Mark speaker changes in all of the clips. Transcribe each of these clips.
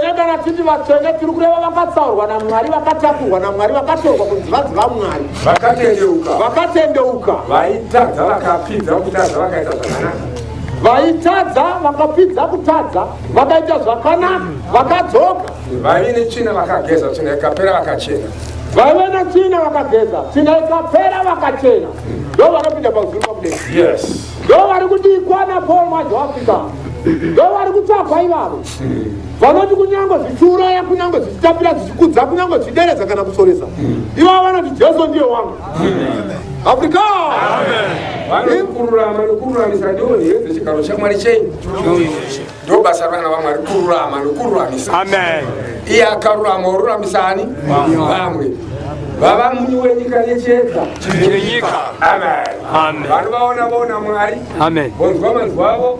Speaker 1: Uye kana titi vatsvene tiri kureva vakatsaurwa naMwari, vakatakurwa naMwari, vakatorwa kunzi vadzi vaMwari, vakatendeuka vakatendeuka, vaitadza
Speaker 2: vakapfidza kutadza vakaita zvakanaka vaitadza,
Speaker 1: vakapfidza kutadza, vakaita zvakanaka, vakadzoka, vaive netsvina
Speaker 2: vakageza tsvina ikapera vakachena vaive netsvina
Speaker 1: vakageza, tsvina ikapera vakachena. Ndo vanopinda pazuru pakudera. yes Ndo
Speaker 2: vari kudikwa
Speaker 1: naPaul Mwajoafika. Ndo vari kutsvagwa ivavo. vanoti kunyange zvichiuraya kunyange zvichitapira zvichikudza kunyange zvichideredza kana kusoresa ivavo vanoti jesu ndiye wangu afrika vanokururama
Speaker 2: nokururamisa ndiwo heve chigaro chamwari chei ndo basa revana vamwari kururama nokururamisa iye akarurama oruramisa ani vamwe vava muni wenyika yechedza chenyika amen vanovaona vaona mwari amen vonzwa manzwa avo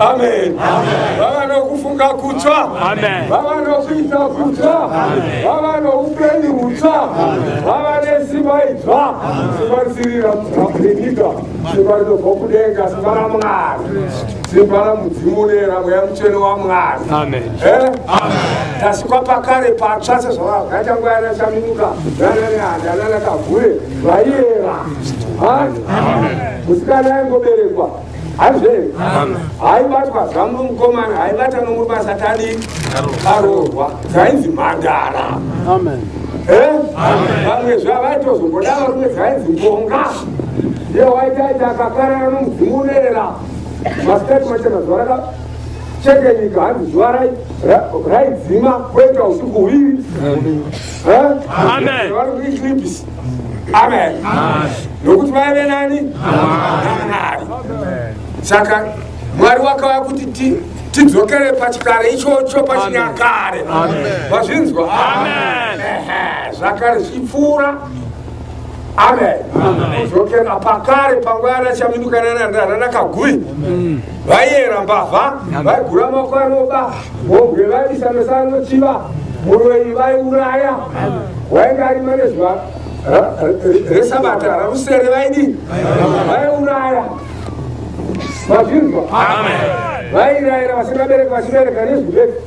Speaker 2: amen vava nokufunga kutsva vava nokuita kutsva vava noupenyu hutsva vava nesimba idzva simba risirira kuapenyika simba rinobva kudenga simba ramwari simba ramudzimu nera mweya mutsvene wamwari eh? tasikwa pakare patsva sezvavakaita nguva yana chaminuka nananeanda nanakavhure vaiyera musikana aingoberekwa Hanzve, haibatwa zvamu nomukomana, haibata nomubasa tadi, karoorwa, dzainzi mhandara. Amen. Eh? Vamwe zvavaitozomboda varume dzainzi mbonga. Ndiye waitaita akakarana nomudzimu unoera. Masikati macho mazuva raka cheke nyika hanzi zuva raidzima kwoita usiku huviri. Eh? Amen. Vari kuiklipisi. amen nokuti vaive nani namwari saka mwari wakava kuti tidzokere pachikare ichocho pachinyakare vazvinzwa zvakare zvipfuura amen kudzokera pakare panguva yarachaminukana nandana nakagui vaiyera mbavha vaigura makwaroba vomwe vaisa mesano chiva muroyi vaiuraya wainge ari manezva resabata rausere vaidi vaiuraya mazvinzwa vairayira vasingabereki vachibereka nezwi bedzi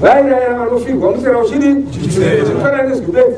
Speaker 2: vairayira vanofirwa musera uchidi chifanana nezwi bedzi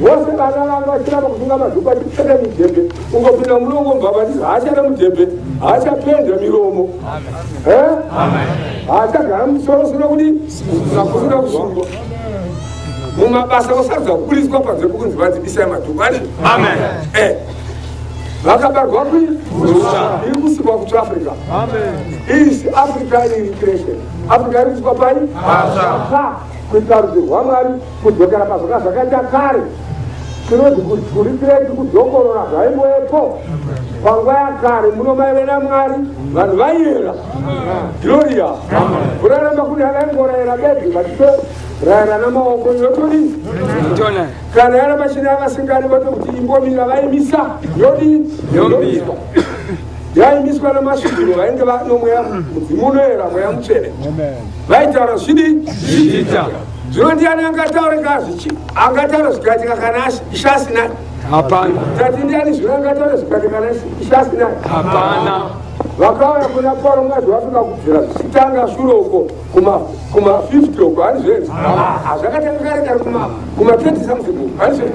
Speaker 2: vose vana vanga vachiramba kusunga mazuku achipfeka mudhebhe ungopinda mulongo mbava ndizvo haachada mudhebhe haachapenda miromo haachagara musoro suna kudi nakusuna kuzvamba mumabasa kusarudza kuburitswa panze pokunzi vanzi bisai madhuku ati eh. vakabarwa kwi iri kusikwa kutu africa isi africa iri creation africa iri kusikwa pai kuita rudzi rwamwari Kudzokera pazvanga zvakaita kare, tinoti kudzurikirai tikudzokorora zvaimboepo panguva yakare muno maive namwari vanhu vaiyera gloria kuraramba kune avaingorayira bedzi vachitoraira namaoko yotodii kana yara mashini avasingari voto kuti imbomira vaimisa yodii yomiswa yaimiswa namasvikiro vainge vanomweya mudzimu unoyera mweya mutsvene vaitaura zvidi zvichiita zvino ndiani angataura ka zvichi angataura zvikaitika kana ishasinai hapana tati ndiani zvino angataura zvikaitika kana ishasinai hapana vakauya kuna pauro mwazi wafika kubvira zvichitanga shure uko kuma 50 uko hanizvenzi hazvakatanga kare kare kuma 20 something uko hanizvenzi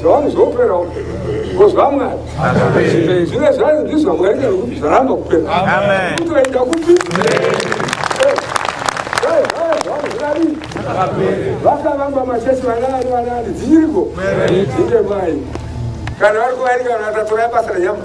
Speaker 2: zvavanhu zvopera kozva mwari zvine zvanhu ndizvo mwari nekuti zvaramba kupera kuti vaita kupi vakavamba machesi vanaani vanaani dzinyiriko inde mai kana vari kuvairika vanhu vatatora basa renyama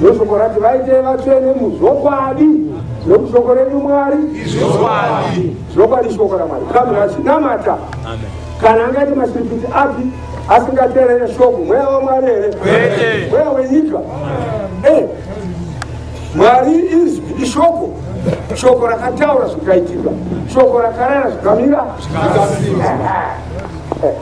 Speaker 2: Ndoshoko rati vaite vatsvene muzvokwadi nokuti shoko renyu mwari izvokwadi zvokwadi shoko ramwari kamwe vachinamata kana angaite mashiripiti api asingaterere shoko mweya wamwari here mweya wenyika eh, mwari izwi ishoko shoko rakataura zvikaitika shoko rakarera zvikamira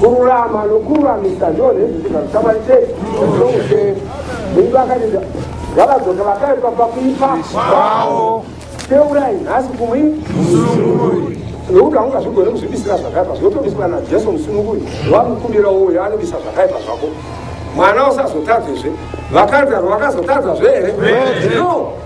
Speaker 2: kururama nokururamisa ndiwo nezvizvinga zvikamani sei zvizoushe mungu akatida ngavadzoka vakaipa pakuipa kwavo teurai nhasi kumwi nokuti haunga zvigone kuzvibisira zvakaipa zvinotobiswa najesu musununguri wamukumbira uyo anobisa zvakaipa zvako mwana usazotadzezve vakanzaro vakazotadzazve here no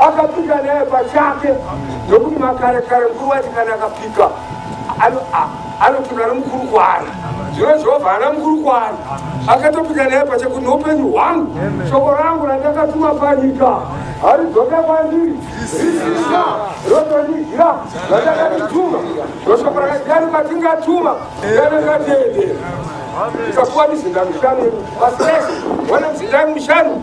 Speaker 2: Akapika naye pachake nokuti makare kare mukuru waiti kana akapika anopika nomukuru kwaari zvino jehovha haana mukuru kwaari akatopika naye pache kuti noupenyu hwangu shoko rangu randakatuma panyika haridzoke kwandiri zisina rotondigira randakatituma roshoko rakadiyani kwatingatuma yanakatendera ikakuwa mizinda mishanu asi ese wana mizinda mishanu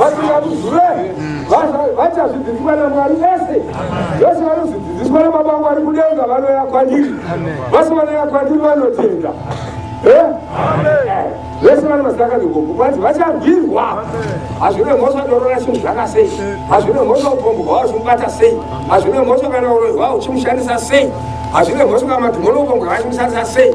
Speaker 2: vasingamuzive vachazvidzidziswa namwari vese vese vanozvidzidziswa nababa vangu vari kudenga vanoya kwandiri vasi vanoya kwandiri vanotenda vese vana mazita akadhigombo kwanzi vacharwirwa hazvine mhosva dorora chinhu zvaka sei hazvine mhosva upombwa hwavo uchimubata sei hazvine mhosva kana uroyi hwavo uchimushandisa sei hazvine mhosva kana madhimono upombwa hwavo uchimushandisa sei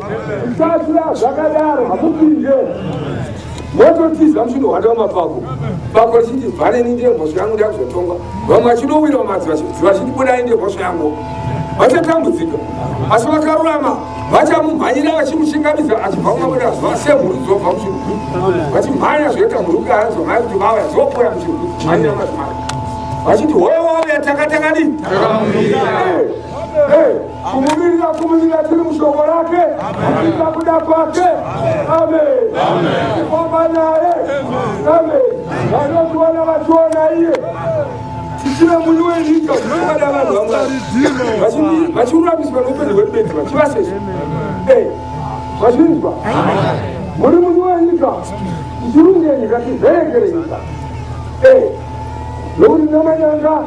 Speaker 2: Zvisasira zvakadaro hamupinde mototiza mushundo hwake wamapapu papo richiti vhaneni ndiye mhosva yangu ndakuzotonga vamwe vachinowira mumadzi vachiti budai ndiye mhosva yangu vachatambudzika asi vakarurama vachamumhanyira vachimuchingamidza achibva kumabuda zuva semhuru dzobva muchirugwi vachimhanya zvoita mhuruka anzomai kuti vauya dzopoya muchirugwi mhanyira mazimai vachiti hoyo wauya takatakadii kumumirira kumunyika tiri mushoko rake kuita kuda kwake amefamba naye ame vanotiwana vationa iye tichive muni wenyika unoada vanhu vamwari vachiruramiswa noupenyu hwedu bedzi vachivasese eh, vachinzwa muri muni wenyika tichirunge nyika tiverekere nyika eh, nokuti namanyanga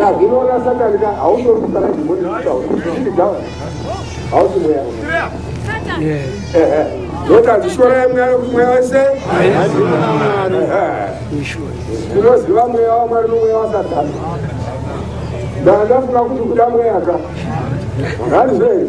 Speaker 2: yazvinoona satani ka hautorusana zvimweni zvichitaura hausi mweya ndoka zvishorai mweya wekumweya wese tinoziva mweya wamwari nomweya wasatani ndandafunga kuti kuda mweya ka hanzi zvei